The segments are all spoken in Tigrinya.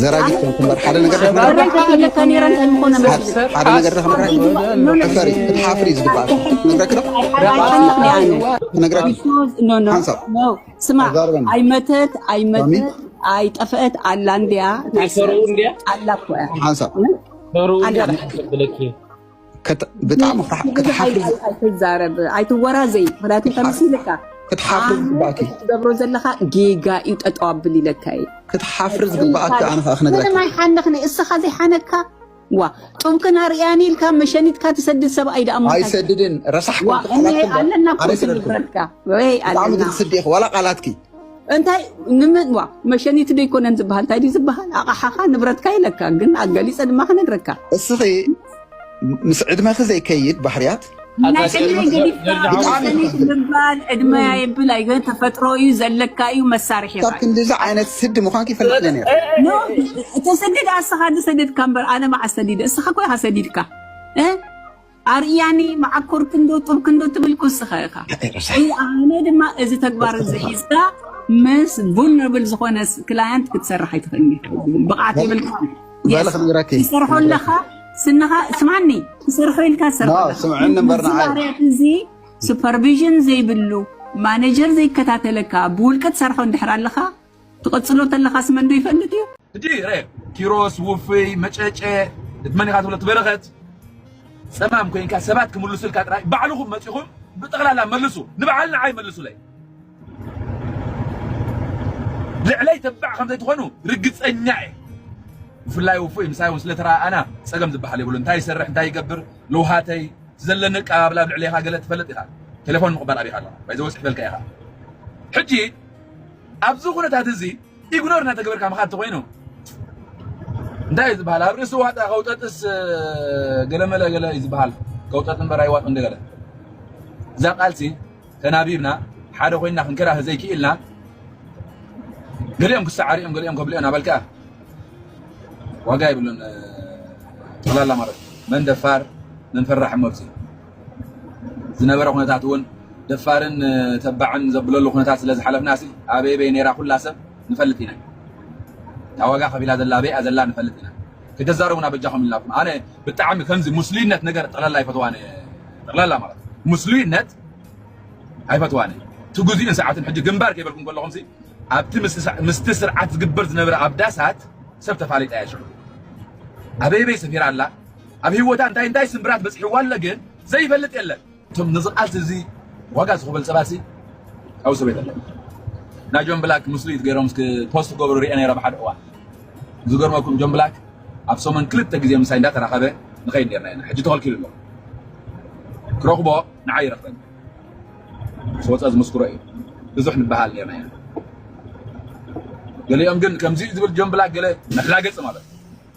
ዘራጊት ከም ትንበር ሓደ ነገር ሓደ ነገር ሕፈሪ እቲ ሓፍሪ ዝግባእ ነግረክ ዶ ነግረክ ሓንሳብ ስማ ኣይመተት ኣይመተት ኣይጠፈአት ኣላ እንዲያ ኣላ እኮ ሓንሳብ ብጣዕሚ ክትሓፍሪ ኣይትዛረብ ኣይትወራዘይ ምክንያቱ ተመሲልካ ክትሓፍሪ ዝግባእኪ ትገብሮ ዘለካ ጌጋ እዩ ጠጠው ኣብል ኢለካ እዩ ክትሓፍሪ ዝግባእኪ ኣነ ከዓ ክነግረካ ምንም ኣይሓንኽኒ እስኻ ዘይሓነካ ዋ ጡብክን ኣርያኒ ኢልካ መሸኒትካ ትሰድድ ሰብኣይ ደኣ ሞ ኣይሰድድን ረሳሕ ኣለና ኮንትረትካ ወይ ኣለና ስዲ ዋላ ቃላትኪ እንታይ ንምዋ መሸኒት ዶ ይኮነን ዝበሃል እንታይ ድዩ ዝበሃል ኣቕሓኻ ንብረትካ ኢለካ ግን ኣገሊፀ ድማ ክነግረካ እስኺ ምስ ዕድመኺ ዘይከይድ ባህርያት ናይ ዕድመይ ገዲፍካ መሸኒት ምባል ዕድመ የብል ኣይገን ተፈጥሮ እዩ ዘለካ እዩ መሳርሒ ካብ ኻዩ ክንዲዚ ዓይነት ስዲ ምዃንኪ ይፈልጥ እየ ነይረ ኖ ተሰድድ ኣስኻ ዝሰደድካ እምበር ኣነ መዓስ ሰዲደ እስኻ ኮይኻ ሰዲድካ እ? ኣርኢያኒ መዓኮር ክንዶ ጡብ ክንዶ ትብል ኩስኻ ኢኻ። ሓቀይ ቀሳሕ እዚ ኣነ ድማ እዚ ተግባር እዚ ሒዝካ ምስ ቡልነብል ዝኾነ ክላየንት ክትሰርሕ ኣይትኽእልኒ ብቕዓት የብልካ ባለ ክንገራኪ ትሰርሖ ኣለኻ ስንኻ ስማኒ ትሰርሖ ኢልካ ትሰርሖ ና ኣለኻ። ስምዕኒ እዚ እምበር ንዓይ ባህርያት እዚ ሱፐርቪዥን ዘይብሉ ማኔጀር ዘይከታተለካ ብውልቂ ትሰርሖ እንድሕር ኣለኻ ትቐጽሎ ተለኻስ መንዶ ይፈልጥ እዩ። እቲ ረ ኪሮስ ውፍይ መጨጨ እቲ መን ኢኻ ትብሎ እቲ በረኸት ጸማም ኮይንካ ሰባት ክምልሱልካ ጥራይ ባዕልኹም መጺኹም ብጠቕላላ መልሱ ንበዓል ንዓይ መልሱለይ ልዕለይ ተባዕ ከም ዘይትኾኑ ርግጸኛ እየ ብፍላይ ውፉይ ምሳይ እውን ስለተረኣኣና ጸገም ዝበሃል የብሉ እንታይ ይሰርሕ እንታይ ይገብር ልውሃተይ ዘለኒ ኣቀባብላ ኣብ ልዕሌኻ ገለ ትፈልጥ ኢኻ ቴሌፎን ምቕባል ኣቢኻ ኣለኻ ባይዘወ ጽሕፈልካ ኢኻ ሕጂ ኣብዚ ኩነታት እዚ ኢግኖር እናተገበርካ ምኻድ እንተኾይኑ እንታይ እዩ ዝበሃል ኣብ ርእሲ ዋጣ ከውጠጥስ ገለመለ ገለ እዩ ዝበሃል ከውጠጥ እምበር ኣይዋጥ እንደገለ እዛ ቃልሲ ተናቢብና ሓደ ኮይና ክንከራህ ዘይክኢልና ገሊኦም ክሰዓሪኦም ገሊኦም ከብልኦም ኣበልካ ዋጋ ይብሉን ጠላላ ማለት መን ደፋር መን ፈራሕ መብፅኡ ዝነበረ ኩነታት እውን ደፋርን ተባዕን ዘብለሉ ኩነታት ስለ ዝሓለፍናሲ ኣበይ በይ ነይራ ኩላ ሰብ ንፈልጥ ኢና እታ ዋጋ ከፊላ ዘላ ኣበይኣ ዘላ ንፈልጥ ኢና ክተዛረቡና በጃኹም ኢልናኩም ኣነ ብጣዕሚ ከምዚ ሙስሉይነት ነገር ጠቕላላ ኣይፈትዋን ጠቕላላ ማለት ሙስሉይነት ኣይፈትዋን እቲ ግዜኡን ሰዓትን ሕጂ ግንባር ከይበልኩም ከለኹም ሲ ኣብቲ ምስቲ ስርዓት ዝግበር ዝነበረ ኣብ ዳሳት ሰብ ተፋሊጣ እያ ሽዑ ኣበይበይ ሰፊራ ኣላ ኣብ ሂወታ እንታይ እንታይ ስምብራት በጽሕዋ ኣሎ ግን ዘይፈልጥ የለን። እቶም ነዚ ቃልሲ እዚ ዋጋ ዝኽበል ሰባት ሲ ኣብኡ ሰብ የለን። ናይ ጆን ብላክ ምስሉይት ገይሮም እስኪ ፖስት ክገብሩ ሪኤ ነይረ ኣብ ሓደ እዋን። ዝገርመኩም ጆን ብላክ ኣብ ሰሙን ክልተ ግዜ ምሳይ እንዳተራኸበ ንኸይድ ነርና ኢና ሕጂ ተኸልኪሉ ኣሎ። ክረኽቦ ንዓይ ይረኽበኒ ምስ ወጸ ዝምስክሮ እዩ ብዙሕ ንበሃል ነርና ኢና። ገሊኦም ግን ከምዚ ዝብል ጆን ብላክ ገለ መላገጺ ማለት እዩ።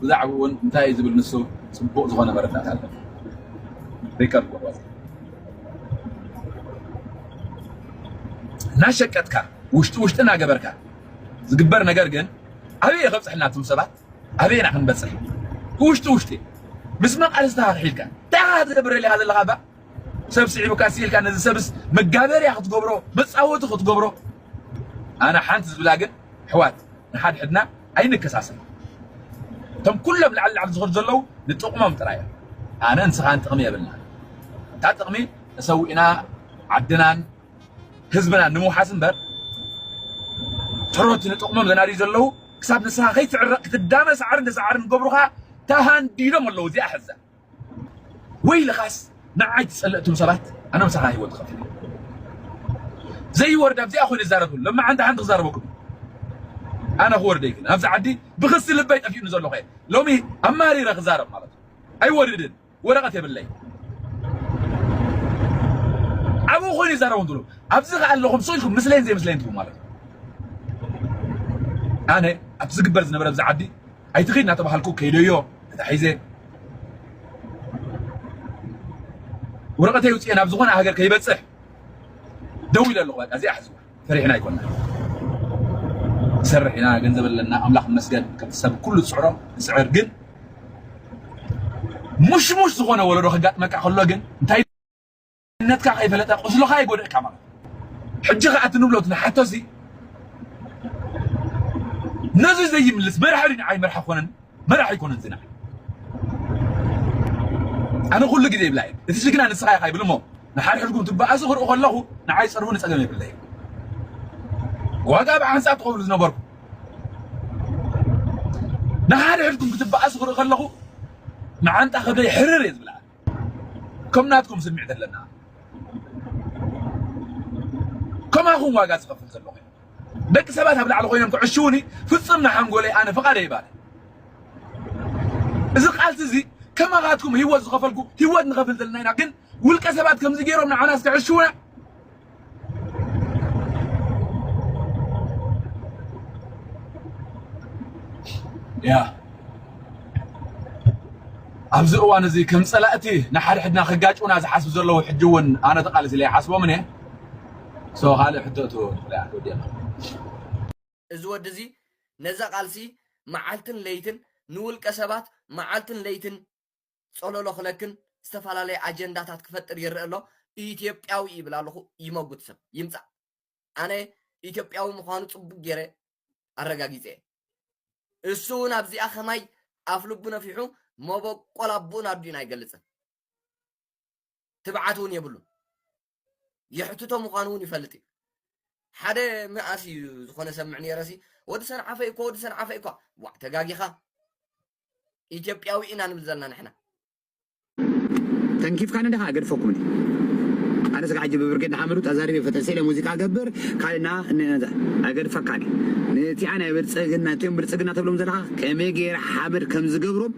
ብዛዕብኡ ውን እንታይ እዩ ዝብል ንሱ ጽቡቅ ዝኮነ መረዳእታ ኣለኒ ሪከርድ ቁረጽ እናሸቀጥካ ውሽጢ ውሽጢ እናገበርካ ዝግበር ነገር ግን ኣበይ እዩ ከብጽሕና እቶም ሰባት ኣበይ ኢና ክንበጽሕ ብውሽጢ ውሽጢ ምስ መን ቃል ዝተሓልሒልካ እንታይ ኢኻ ትገብረልካ ዘለኻ እባ ሰብ ስዒቡካ ስኢልካ ነዚ ሰብስ መጋበርያ ክትገብሮ መጻወቲ ክትገብሮ ኣነ ሓንቲ ዝብላ ግን ኣሕዋት ንሓድሕድና ኣይንከሳሰብ እቶም ኩሎም ላዕሊ ላዕሊ ዝኸዱ ዘለዉ ንጥቕሞም ጥራይ እዮም ኣነ ንስኻን ጥቕሚ የብልና እታ ጥቕሚ ተሰዊእና ዓድናን ህዝብናን ንምውሓስ እምበር ትሮት ንጥቕሞም ዘናድዩ ዘለዉ ክሳብ ንስኻ ከይትዕረቕ ክትዳመ ሳዕርን ተሳዕርን ገብሩኻ ተሃንዲዶም ኣለዉ እዚኣ ሕዛ ወይልኻስ ንዓይ ትጸልእትም ሰባት ኣነ ምሳኻ ሂወት ትኸፍል እየ ዘይወርድ ኣብዚኣ ኮይነ ይዛረብሉ ሎሚ ሓንቲ ሓንቲ ክዛረበኩም ኣነ ክወርደይ ግን ኣብዚ ዓዲ ብክሲ ልበይ ጠፊኡኒ ዘለኹ እየ ሎሚ ኣማሪረ ክዛረብ ማለት እዩ ኣይወርድን ወረቐት የብለይ ኣብኡ ኮይኑ ይዛረቡ እንትብሉ ኣብዚ ከዓ ኣለኹም ሰው ኢልኩም ምስለይን ዘይምስለይን ትብሉ ማለት እዩ ኣነ ኣብ ዝግበር ዝነበረ ኣብዚ ዓዲ ኣይትኺድ እናተባሃልኩ ከይደዮ ተታሒዘ ወረቐተይ ውፅኤ ናብ ዝኾነ ሃገር ከይበፅሕ ደው ኢለ ኣለኹ በቃ እዚኣ ሕዝዋ ፈሪሕና ኣይኮና ንሰርሕ ኢና ገንዘብ ኣለና ኣምላኽ መስገን ከምቲ ሰብ ኩሉ ዝፅዕሮ ንፅዕር ግን ሙሽሙሽ ዝኾነ ወለዶ ከጋጥመካ ከሎ ግን እንታይ መንነትካ ከይፈለጠ ቁስልኻ ይጎድእካ ማለት ሕጂ ከኣ እቲ ንብሎ ንሓቶ እዚ ነዚ ዘይምልስ መራሒ ድዩ ንዓይ መራሒ ኮነን መራሒ ኣይኮነን እዚ ንዓይ ኣነ ኩሉ ግዜ ይብላ እየ እቲ ጅግና ንስኻ ኢኻ ይብል እሞ ንሓድሕድኩም ትበኣሱ ክርኢ ከለኹ ንዓይ ፀርፉ ንፀገም የብለ እዩ ዋጋ ኣብ ዓንፃር ትኸብሉ ዝነበርኩ ንሓድሕድኩም ክትበኣሱ ክርኢ ከለኹ መዓንጣ ከብደይ ሕርር እየ ዝብላ ከም ናትኩም ስምዒት ኣለና ከማኹም ዋጋ ዝኸፍል ዘሎ ኮይኑ ደቂ ሰባት ኣብ ላዕሊ ኮይኖም ክዕሽውኒ ፍፅም ንሓንጎለይ ኣነ ፍቓደ ይባል እዚ ቃልሲ እዚ ከማኻትኩም ህይወት ዝኸፈልኩ ህይወት ንኸፍል ዘለና ኢና ግን ውልቀ ሰባት ከምዚ ገይሮም ንዓናስ ክዕሽውና ያ ኣብዚ እዋን እዚ ከም ፀላእቲ ንሓድሕድና ክጋጭውና ዝሓስቡ ዘለዉ ሕጂ እውን ኣነ ተቓሊሲ ኢለ ይሓስቦምን እየ ሶ ካልእ ሕቶ እቶ ወዲና እዚ ወዲ እዚ ነዛ ቃልሲ መዓልትን ለይትን ንውልቀ ሰባት መዓልትን ለይትን ጸሎሎ ክለክን ዝተፈላለየ ኣጀንዳታት ክፈጥር ይረእ ኣሎ ኢትዮጵያዊ ይብል ኣለኹ ይመጉት ሰብ ይምጻእ ኣነ ኢትዮጵያዊ ምዃኑ ጽቡቅ ገይረ ኣረጋጊጸ እየ እሱ እውን ኣብዚኣ ከማይ ኣፍ ልቡ ነፊሑ መበቆል ኣቦኡን ኣዲኡን ኣይገልጽን ትብዓት እውን የብሉን የሕትቶ ምዃኑ እውን ይፈልጥ እዩ ሓደ መኣስ እዩ ዝኾነ ሰምዕ ነይረሲ ወዲ ሰንዓፈ እኮ ወዲ ሰንዓፈ እኳ ዋዕ ተጋጊኻ ኢትዮጵያዊ ኢና ንብል ዘለና ንሕና ተንኪፍካኒ ድኻ ገድፈኩምኒ ኣነስ ከዓ ሕጂ ብብርጌድ ንሓመዱ ተዛሪበ ፈጠን ስኢለ ሙዚቃ ገብር ካልእና ንዛ ኣገድፈካኒ ነቲኣ ናይ ብልፅግና እቲኦም ብልፅግና ተብሎም ዘለኻ ከመይ ገይረ ሓመድ ከም ዝገብሮም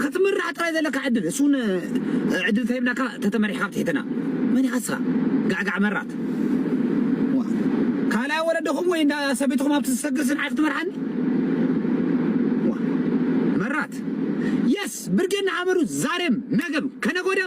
ክትምራሕ ጥራይ ዘለካ ዕድል እሱ ውን ዕድል ተሂብናካ ተተመሪሕካ ኣብ ትሒትና መን ይሃስካ ጋዕጋዕ መራት ዋእ ካልኣይ ወለድኹም ወይ እንዳ ሰበይትኹም ኣብቲ ዝሰግርሲ ንዓይ ክትመርሓኒ ዋእ መራት የስ ብርጌድ ንሓመዱ ዛሬም ነገም ከነገወድያ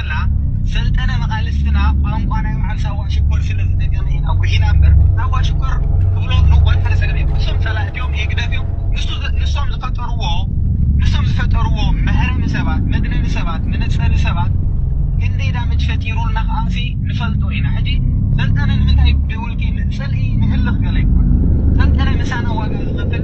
ጌርና ሰልጠነ መቃልስትና ቋንቋ ናይ በዓል ሳዋ ሽኮር ስለ ዝደገመ ኢና ጉሒና እምበር ሳዋ ሽኮር ክብሎ ንወድ ሃረሰገድ እዮም ንሶም ጸላእቲ እዮም ህግደፍ እዮም ንሱ ንሶም ዝፈጠርዎ ንሶም ዝፈጠርዎ መህረሚ ሰባት መግነኒ ሰባት መነጸሪ ሰባት ክንደይ ዳመጅ ፈጢሩልና ከኣሲ ንፈልጦ ኢና ሕጂ ሰልጠነ ንምንታይ ብውልቂ ጽልኢ ንህልኽ ገለ ይበሃል ሰልጠነ ምሳና ዋጋ ዝኸፍል